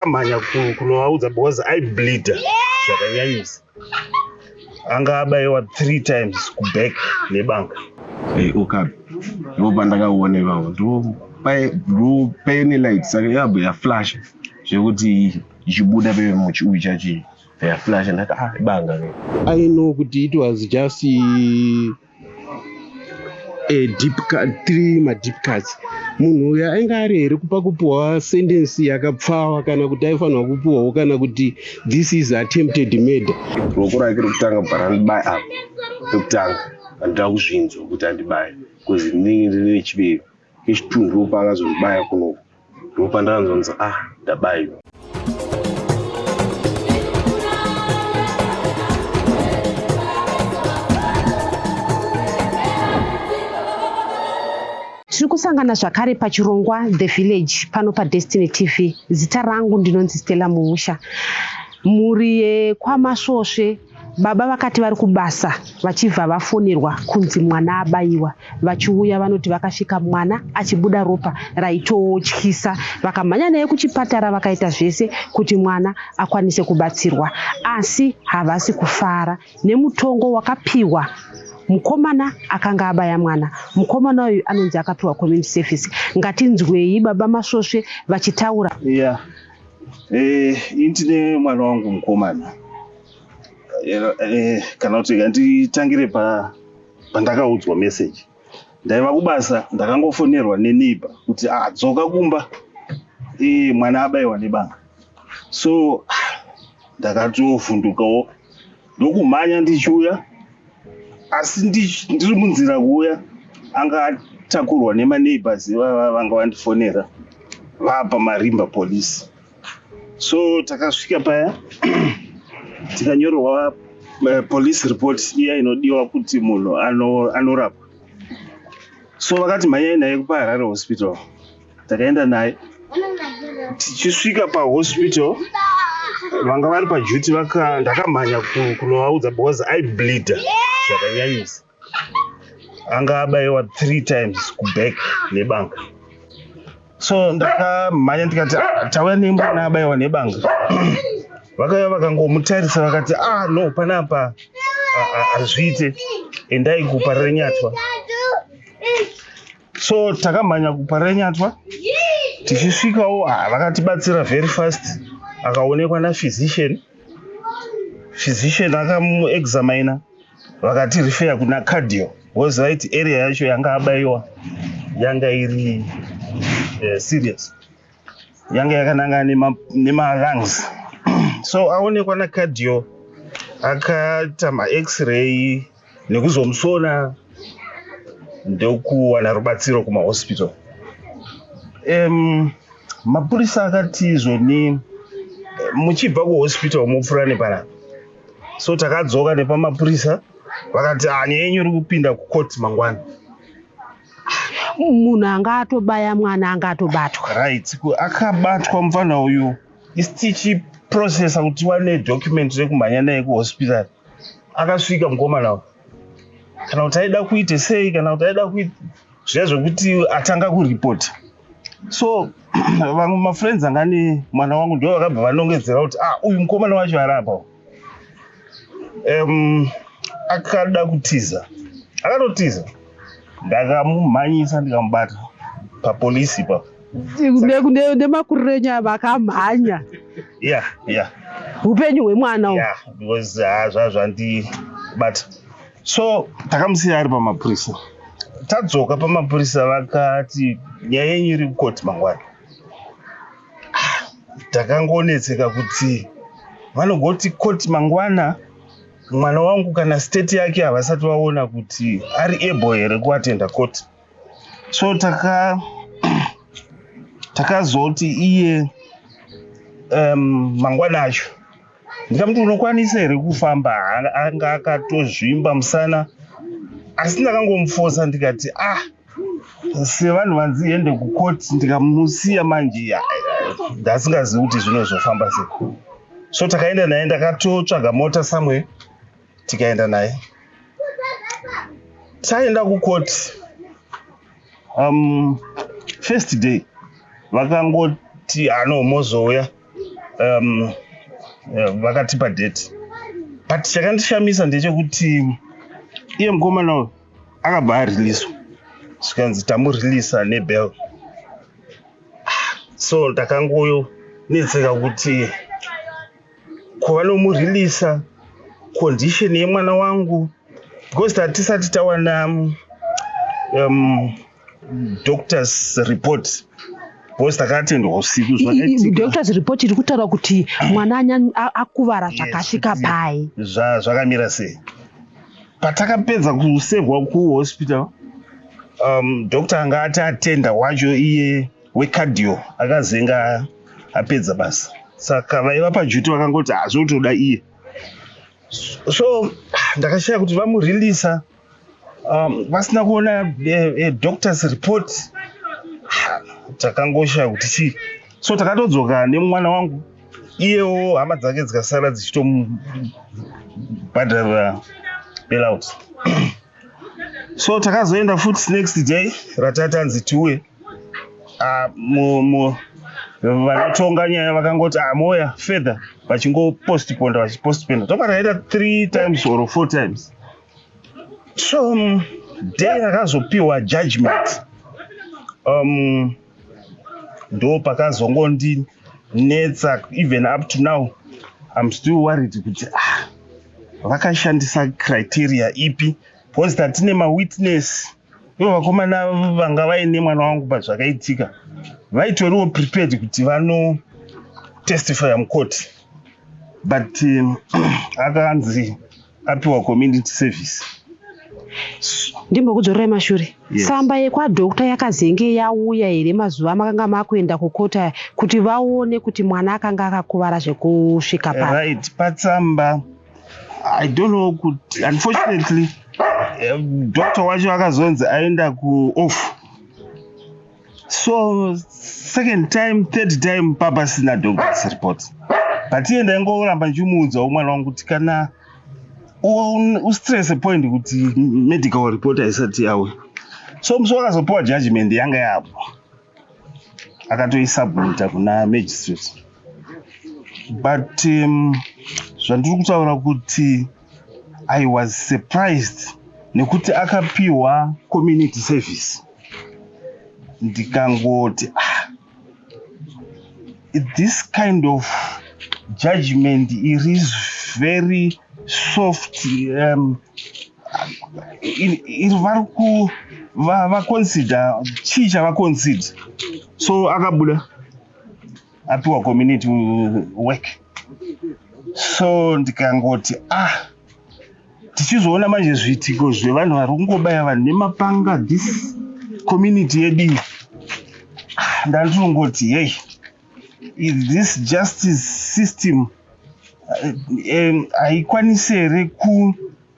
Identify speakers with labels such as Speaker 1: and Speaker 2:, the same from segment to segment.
Speaker 1: ndakamhanya kunovaudza because i bleeder zvakanyanyisa anga abayiwa three times kuback nebanga hey, okapi
Speaker 2: ndo pandakaona ivavo ndo paine light saka yabho yaflash zvekuti ichibuda pemuchi uyu chachii yaflash ndati ah ibanga i know kuti
Speaker 3: it was just eh, deep cut, three madeep cuts munhu uyu ainge ari here kupa kupiwa sendensi yakapfawa kana kuti aifanirwa kupiwawo kana kuti this is attempted murder ruoko rake rokutanga
Speaker 2: bva randibaye apa rekutanga andida kuzvinzwa kuti andibaye bcause ndinenge ndine nechivero kechitunhu ropa akazondibaya kunoku ndopandanzonzi ah ndabaiwa
Speaker 4: tiri kusangana zvakare pachirongwa the village pano padestiny tv zita rangu ndinonzi stella muusha mhuri yekwamasvosve Baba vakati vari kubasa vachibva vafonerwa kunzi mwana abaiwa. Vachiuya vanoti vakasvika mwana achibuda ropa raitotyisa. Vakamhanya naye kuchipatara vakaita zvese kuti mwana akwanise kubatsirwa asi havasi kufara nemutongo wakapiwa mukomana akanga abaya mwana. Mukomana uyu anonzi akapiwa community service. Ngatinzwei baba Masvosve vachitaura. Yeah. Eh,
Speaker 1: ini tine mwana wangu mukomana Eh, eh, kana kuti handitangire pa pandakaudzwa message ndaiva kubasa ndakangofonerwa neneighbor kuti ah, dzoka kumba eh, mwana abaiwa nebanga so ah, ndakatovhundukawo ndokumhanya ndichiuya asi ndiri munzira kuuya anga atakurwa nemaneighbors ivava vanga vandifonera vapa marimba police so takasvika paya tikanyorerwa eh, police report iya inodiwa kuti munhu anorapwa so vakati mhanyai naye kupaharare hospital takaenda naye tichisvika pahospital vanga vari pajuti ndakamhanya kunovaudza because aibleeda zvakanyanyisa anga abayiwa three times kuback nebanga so ndakamhanya ndikati ah, tauya nemwana abayiwa nebanga vakauya vakangomutarisa vakati ah no panapa hazviite endai kupa renyatwa so takamhanya kuparenyatwa tichisvikawo ah, vakatibatsira very fast akaonekwa naphysician physician akamuexamina vakati refeya kuna cardio was right area yacho yanga abaiwa yanga iri uh, serious yange yakananga nemalungs so aonekwa nacardio akaita max-ray nekuzomusona ndokuwana rubatsiro kumahospital um, mapurisa akati izvoni muchibva kuhospital mopfura nepana so takadzoka nepamapurisa vakati hanya ah, yenyu iri kupinda kucourt mangwana
Speaker 4: munhu anga atobaya mwana anga atobatwa right
Speaker 1: akabatwa mufana uyu isi tichiprocessa kuti wane document rekumhanya naye kuhospital akasvika mukomana uyu kana kuti aida kuite sei kana kuti aida kuita zviya zvekuti atanga kuripota so vamwe mafriends anga ne mwana wangu ndo vakabva vanongedzera kuti ah uyu mukomana wacho arapa um, akada kutiza akatotiza ndakamumhanyisa ndikamubata papolisi pa
Speaker 4: nemakuriro enyu ava akamhanya ya
Speaker 1: ya upenyu
Speaker 4: hwemwana ya because ah,
Speaker 1: zvazvandibata so takamusiya ari pamapurisa tadzoka pamapurisa vakati nyaya yenyu iri kukoti mangwana takangonetseka kuti vanogoti koti mangwana mwana wangu kana state yake havasati vaona kuti ari able here kuatenda koti so taka takazoti iye um, mangwana acho ndikamuti unokwanisa here kufamba anga akatozvimba musana asi ndakangomufosa ndikati ah sevanhu vanzi ende kukoti ndikamusiya manje ndasingazivi kuti zvinozofamba se so takaenda naye ndakatotsvaga mota somewhere tikaenda naye taenda kukoti um, first day vakangoti ano mozouya um, eh, vakatipa date but chakandishamisa ndechekuti iye mukomana uyu akabva areleaswa zvikanzi tamureleasa nebel so ndakangoyo netseka kuti kuva nomureleasa condition yemwana wangu because tatisati tawana um, doctors report because takatendwa usiku zvadoctors report
Speaker 4: iri kutaura kuti mwana anya akuvara zvakasvika pai zvakamira sei
Speaker 1: patakapedza kusevhwa kuhospital um, doctor anga ati atenda wacho iye wecadio akazenga apedza basa saka vaiva pajuti vakangoti hazvotoda iye so ndakashaya kuti vamureleasa um, vasina kuona a, eh, a eh, doctors report takangoshaya kuti chii so takatodzoka nemwana wangu iyewo hama dzake dzikasara dzichitomubhadharira bailout so takazoenda futi next day ratatanzi tiuye ah, vanotonga nyaya vakangoti amoya ah, further vachingopostponda vachipostponda toka taita three times or four times so um, day rakazopiwa judgment um, ndo pakazongondinetsa even up to now im still worried kuti ah, vakashandisa criteria ipi because tatine mawitness ivo vakomana vanga vaine mwana wangu pazvakaitika vaitoriwo prepared kuti vano testify mukoti but um, akanzi apiwa community service ndimbokudzorerai
Speaker 4: mashure yes. samba yekwadokta yakazenge yauya here mazuva amakanga makuenda kukota kuti vaone kuti mwana akanga akakuvara zvekusvika pa right patsamba
Speaker 1: i don't know kuti unfortunately um, doctor wacho akazonzi aenda kuoff so second time third time papa sina doctors report but iye ndaingoramba ndichimuudzawo mwana wangu kuti kana ustress point kuti medical report haisati yawe so musi wakazopiwa judgment yanga yapo akatoisubmita kuna magistrate but um, zvandiri kutaura kuti i was surprised nekuti akapiwa community service ndikangoti ah, this kind of judgment it is very soft um, iri vari ku vaconsider chii chavaconsider so akabuda apiwa community work so ndikangoti ah tichizoona manje zviitiko zvevanhu vari kungobaya vanhu nemapanga this community yedu iyi ah, ndandiringoti hei is this justice system eh, haikwanisi uh, um, here ku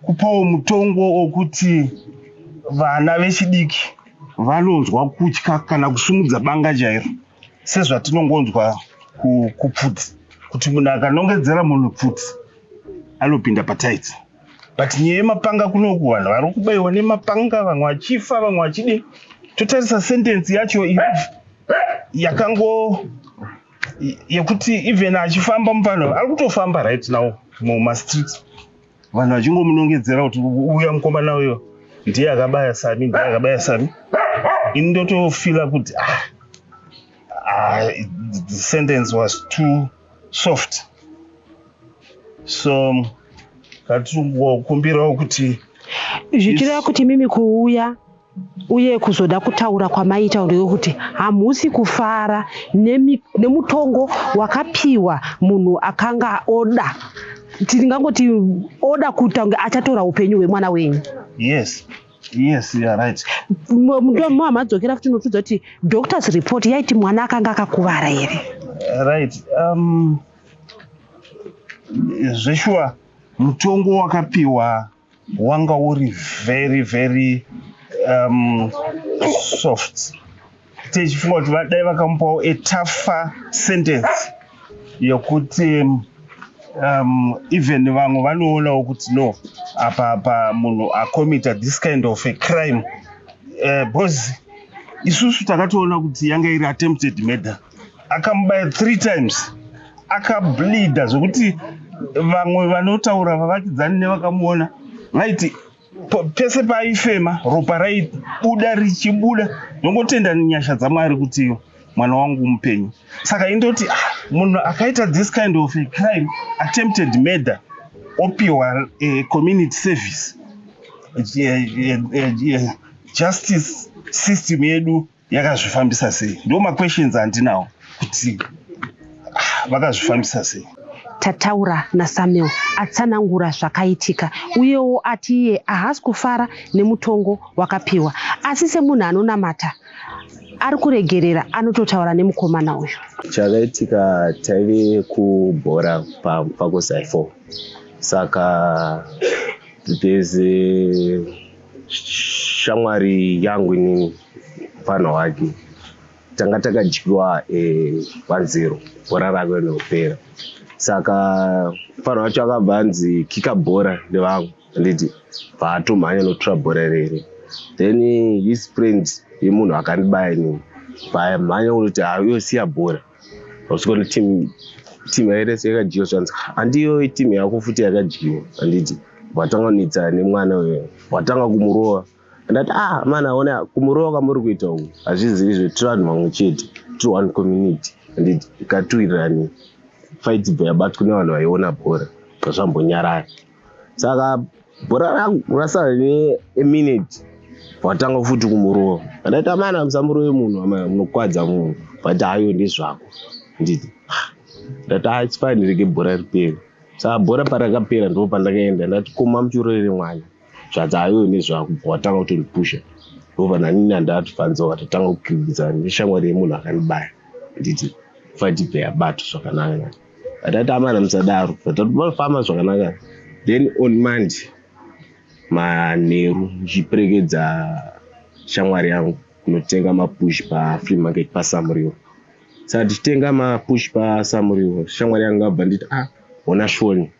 Speaker 1: kupawo mutongo wokuti vana vechidiki vanonzwa kutya kana kusumudza banga chairo sezvatinongonzwa kupfudzi kuti munhu akanongedzera munhu pfudzi anopinda pataiti but nyaya yemapanga kunoku vanhu vari kubaiwa nemapanga vamwe vachifa vamwe vachidi totarisa sentensi yacho yakango yekuti even achifamba muvanhu ari kutofamba right now mumastreets vanhu vachingomunongedzera kuti uya mukomana uyo ndiye akabaya sami ndiye akabaya sami ini ndotofila kuti ah, ah, the sentence was too soft so katiri kukumbirawo kuti zvichireva
Speaker 4: kuti mimi kuuya uye kuzoda kutaura kwamaita ndeyekuti hamusi kufara nemutongo wakapiwa munhu akanga oda tingangoti oda kuita kunge achatora upenyu hwemwana wenyu yes
Speaker 1: yes you're right muhamadzokera
Speaker 4: futi unotudza kuti doctors report yaiti mwana akanga akakuvara here right
Speaker 1: um, zveshuwa mutongo wakapiwa wanga uri very very um, soft tichifunga kuti vadai vakamupawo a tougher sentence yokuti um, even vamwe vanoonawo kuti no apa apa munhu acomita this kind of a crime uh, because isusu takatoona kuti yanga iri attempted murder akamubaya three times akableeda zvekuti vamwe vanotaura vavakidzani nevakamuona vaiti pese paaifema ropa raibuda richibuda ndongotenda nyasha dzamwari kuti mwana wangu mupenyu saka indoti ah, munhu akaita this kind of a crime attempted murder opiwa eh, community service eh, eh, justice system yedu yakazvifambisa sei ndo maquestions andinawo kuti ah, vakazvifambisa sei tataura
Speaker 4: nasamuel atsanangura zvakaitika uyewo ati iye ahasi kufara nemutongo wakapiwa asi semunhu anonamata ari kuregerera anototaura nemukomana uyu chakaitika
Speaker 2: taive kubhora pakusaifo saka there's a shamwari yangu inini mupfanha wake tanga takadyiwa vanzero eh, bhora rave nekupera saka mupfanha wacho akabva anzi kika bhora nevamwe anditi paatomhanya nokutora bhora rere then his friend yemunhu akandibaya inini pamhanya unoti hauyosiya bhora Usikuona team team yairese yakadyiwa zvanzi handiyo team yako futi yakadyiwa handiti watanga kunetsa nemwana uyo watanga kumurova ndati ah mani aona kumurova kwamuri kuita uku hazvizivi zve tiri vanhu vamwe chete tiri one community handiti ikatuwirirani faitibva yabatwa nevanhu vaiona bhora zvambonyarara saka bhora rangu rasara neminute watanga futi kumurova andaita amana musamurove munhu munokwadza munhu but hayo ndezvako nditi ah, ndati ah, its fine rege bhora ripere saka bhora parakapera ndipo pandakaenda ndati koma muchurorere mwana zvati hayo nezvako watanga kutondipusha ndova nanini andati fanza watatanga kukiridzana neshamwari yemunhu akanibaya nditi fatipe yabato zvakanaka Tatamana musadaro. Tatofamba zvakanaka. Then on Monday manheru ndichiperekedza shamwari yangu kunotenga mapush pafree market pasamuriwo saka tichitenga mapush pasamuriwo shamwari yangu abva nditi a ah, hona shoni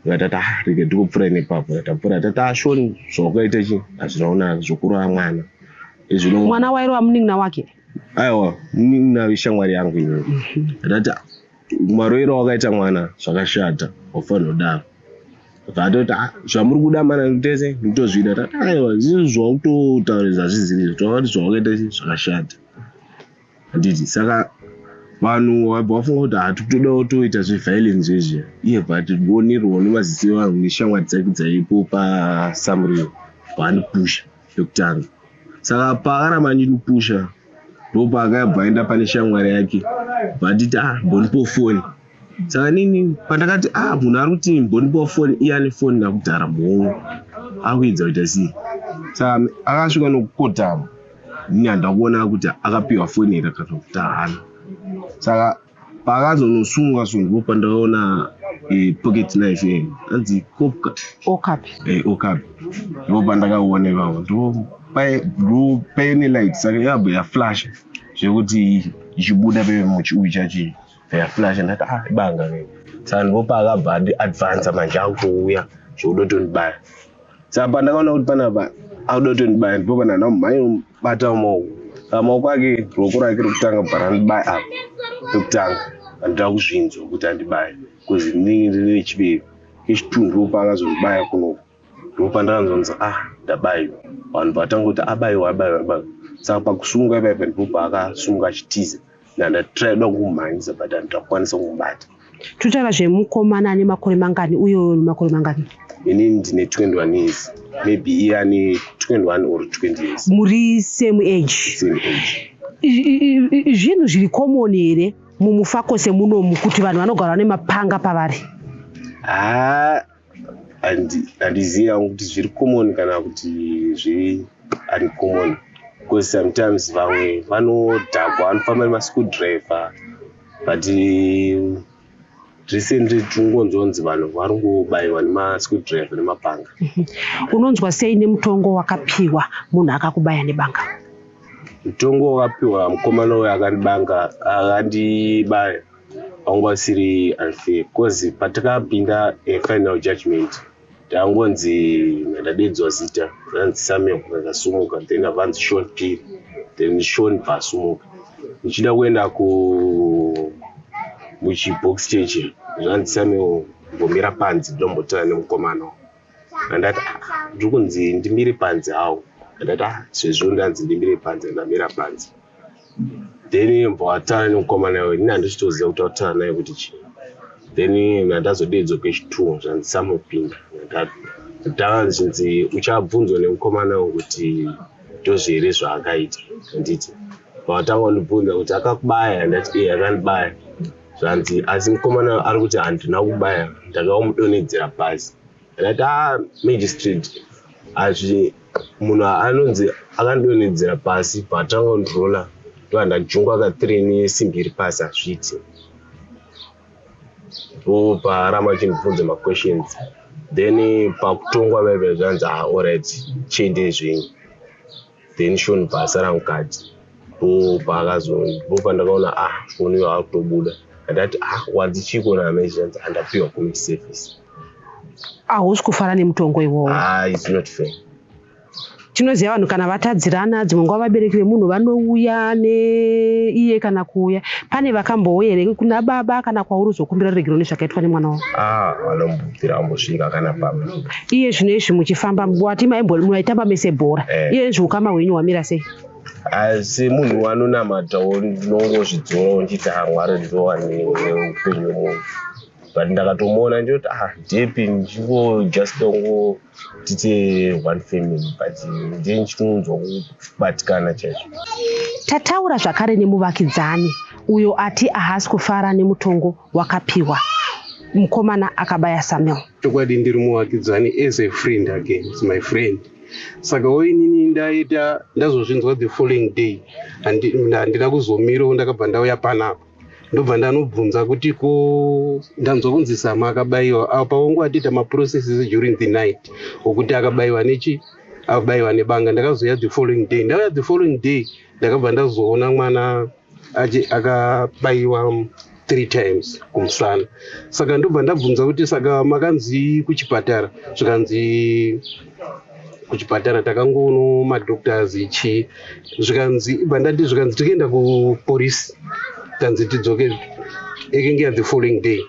Speaker 2: vatata ah, rege ndikupfura nepapo tatapfura tata ah, shoni zvawakaita chi hazvinaona zvokurova mwana izvino mwana
Speaker 4: wairova munin'ina wake aiwa
Speaker 2: nayo ishamwari yangu iyoyo ndati maroiro wakaita mwana zvakashata wafanira kudaro vatoti ah, zvamuri kuda mana tese nditozvida tati aiwa zvinhu zvautotaurisa zvizirizo tavati zvawakaita zvakashata handiti saka vanhu vabva vafunga kuti hatitodawo toita zveviolence zvezvi iye but wonirwa nemaziso evanhu neshamwari dzaiku dzaipo pasamuriwo vanipusha yokutanga saka paakaramba andinipusha ndopaakabva aenda pane shamwari yake vanditi ah mbonipo foni saka nini pandakati ah munhu ari kuti mbonipo foni iye ane foni nakudhara muhongo akuedza kuita sei saka akasvika nokukotama ini handina kuona kuti akapiwa foni here kana kuti haana saka paakazonosungwa sungwa pandaona eh, pocket knife eh, anzi kopka okapi eh, okapi ndo pandakaona ipapo ndo pae- ndo paine light saka yabva yaflash zvekuti ichibuda peve muchiuyu chachi yaflash ndati ah ibanga ke saka ndipo paakabva andi advansa manje akutouya zvekuda kutondibaya saka ndakaona kuti panapa akuda kutondibaya ndipo panana mhai bata maoko pamaoko ake ruoko rake rokutanga bva randibaya apa pekutanga andida kuzvinzwa kuti andibaya bcause ndinenge ndine chivero kechitunhu ropa akazondibaya kunoko ndopandakanzonzi ah ndabaiwa vanhu vatanga kuti abaiwa abaiwa abaiwa saka pakusunga ipaipa ndipo paakasunga achitiza ndandatirada kumhanyisa but handakwanisa kumubata totaura
Speaker 4: zvemukomana ane makore mangani uyo makore mangani ini ndine 21
Speaker 2: years maybe iye ane 21 or 20 years muri same
Speaker 4: age same age zvinhu zviri common here mumufakose munomu kuti vanhu vanogara nemapanga pavari haa ah,
Speaker 2: handizivi hangu kuti zviri common kana kuti zviri uncommon because sometimes vamwe vanodhakwa vanofamba nemaschool driver but recently tinongonzonzi vanhu vari ngobayiwa nemaschool driver nemapanga mhm. unonzwa
Speaker 4: sei nemutongo wakapiwa munhu akakubaya nebanga mutongo
Speaker 2: wakapiwa mukomana uyo akandibanga akandibaya wanga usiri unfair because patakapinda eh, final judgment tangonzi ndadedzwa zita ranzi samuel vakasumuka then avanzi shon piri then shon vasumuka ndichida kuenda ku muchibox cheche zvanzi samuel mbomira panzi ndombotana nemukomana andati ah, ndiri kunzi ndimire panzi hawo andati ah, sezvo ndanzi ndimire panzi andamira panzi then yembwa watara nemukomana iwe ini handichitoziva kuti watara naye kuti chii then nandazodedzwa kwechitunhu zvandisamupinda ndanga ndichinzi uchabvunzwa nemukomana wo kuti ndozvi here zvaakaita handiti pavatanga kundibvunza kuti akakubaya handati e akandibaya zvanzi asi mukomana ari kuti handina kubaya ndakaomudonedzera pasi ndati a magistrate hazvi munhu anonzi akandonedzera pasi paatanga kundrola ndova ndajungwa ka three nesimbi iri pasi hazviiti ndo paaramba achinibvunza maquestions then pakutongwa vaive zvanzi a ah, orit chiendei zvenyu then shoni paasara mukadzi po paakazoni po pandakaona ah foni iyo akutobuda andati ah wadzi chiko naamezvanzi andapiwa community service
Speaker 4: hausi kufara nemutongo iwowo ah, it's not fair tinoziva vanhu kana vatadzirana dzimwe nguva vabereki vemunhu vanouya neiye kana kuuya pane vakambouya here kuna baba kana kwauri uzokumbira ruregeroni zvakaitwa nemwana wavo ah, vanombobvira
Speaker 2: vambosvika kana baba iye zvino izvi
Speaker 4: muchifamba wati maitamba mese bhora eh. iye izvi ukama hwenyu hwamira sei asi
Speaker 2: munhu wanonamatawo ndinongozvidzora unditi ha mwari ndowani upenyu wemunhu but ndakatomuona ndiyoti ah depi ndingo just ongo tite one family but ndie ndichinonzwa kubatikana chaizvo tataura
Speaker 4: zvakare nemuvakidzani uyo ati ahasi kufara nemutongo wakapiwa mukomana akabaya samuel chokwadi ndiri
Speaker 3: muvakidzani as a friend again is my friend saka woinini ndaita ndazozvinzwa the following day handina kuzomirawo ndakabva ndauya panapa ndobva ndanobvunza kuti ko ndanzwa kunzi sama akabayiwa apa wangu atiita maprocesses during the night okuti akabayiwa nechi akabayiwa nebanga ndakazouya the following day ndauya the following day ndakabva ndazoona mwana akabaiwa three times kumusana saka ndobva ndabvunza kuti saka makanzi kuchipatara zvikanzi kuchipatara takangoono madoctors chii zvikanzi ibva ndati zvikanzi tikaenda kupolice tanzi tidzoke ekenge ya the following day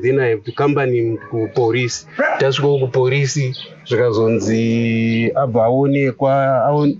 Speaker 3: then i have to company kupolice tasvikawo kupolice zvikazonzi abva aonekwa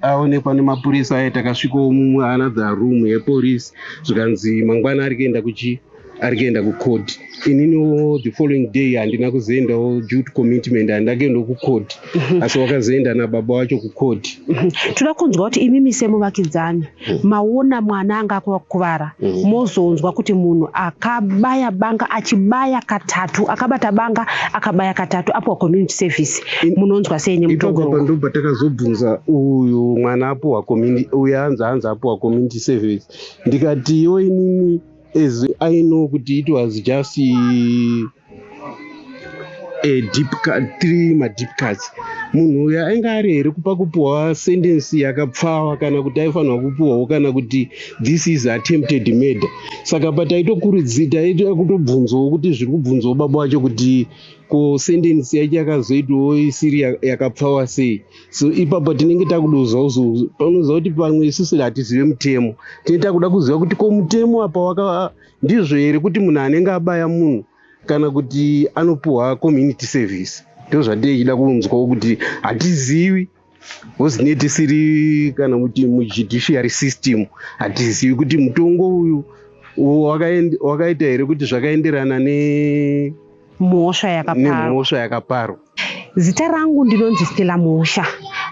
Speaker 3: aonekwa nemapurisa aye takasvikawo mumwe another room yepolice zvikanzi mangwana ari kuenda kuchi ari kuenda kucourt ininiwo the following day handina kuzoendawo due to commitment handina kuendawo kucourt mhm. asi wakazoenda nababa wacho kucourt mhm. toda kunzwa
Speaker 4: kuti imimi semuvakidzani Mm. maona mwana anga akakuvara mm. mozonzwa kuti munhu akabaya banga achibaya katatu akabata banga akabaya katatu apuwa community service munonzwa sei nemutogondo patakazobvunza
Speaker 3: uyu mwana apuwa community uyu anzi anzi apuwa community service ndikati yo inini as i know kuti it was just Eh, deep cut three madeep cuts munhu uyo ainge ari here kupa kupiwa sendensi yakapfawa kana kuti aifanirwa kupiwawo kana kuti this is attempted murder saka pataitokurudzita aita kutobvunzawo kuti zviri kubvunzawo baba wacho kuti ko sendensi yacho yakazoitawo isiri yakapfawa sei so ipapo tinenge takudozawo zouzo panoziva kuti pamwe isusu hatizive mutemo tinenge takuda kuziva kuti ko mutemo apa waka Ndizvo here kuti munhu anenge abaya munhu kana kuti anopiwa community service ndozvatei chida kunzwawo kuti hatizivi hozine tisiri kana kuti mujudiciary system hatizivi kuti mutongo uyu wakaita here kuti zvakaenderana ne mhosva yakaparwa nemhosva yakaparwa zita rangu
Speaker 4: ndinonzi stela mhosva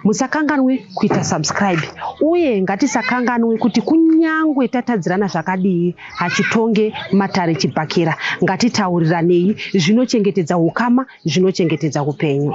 Speaker 4: musakanganwe kuita subscribe uye ngatisakanganwe kuti kunyangwe tatadzirana zvakadii hachitonge matare chibhakera ngatitauriranei zvinochengetedza ukama zvinochengetedza upenyu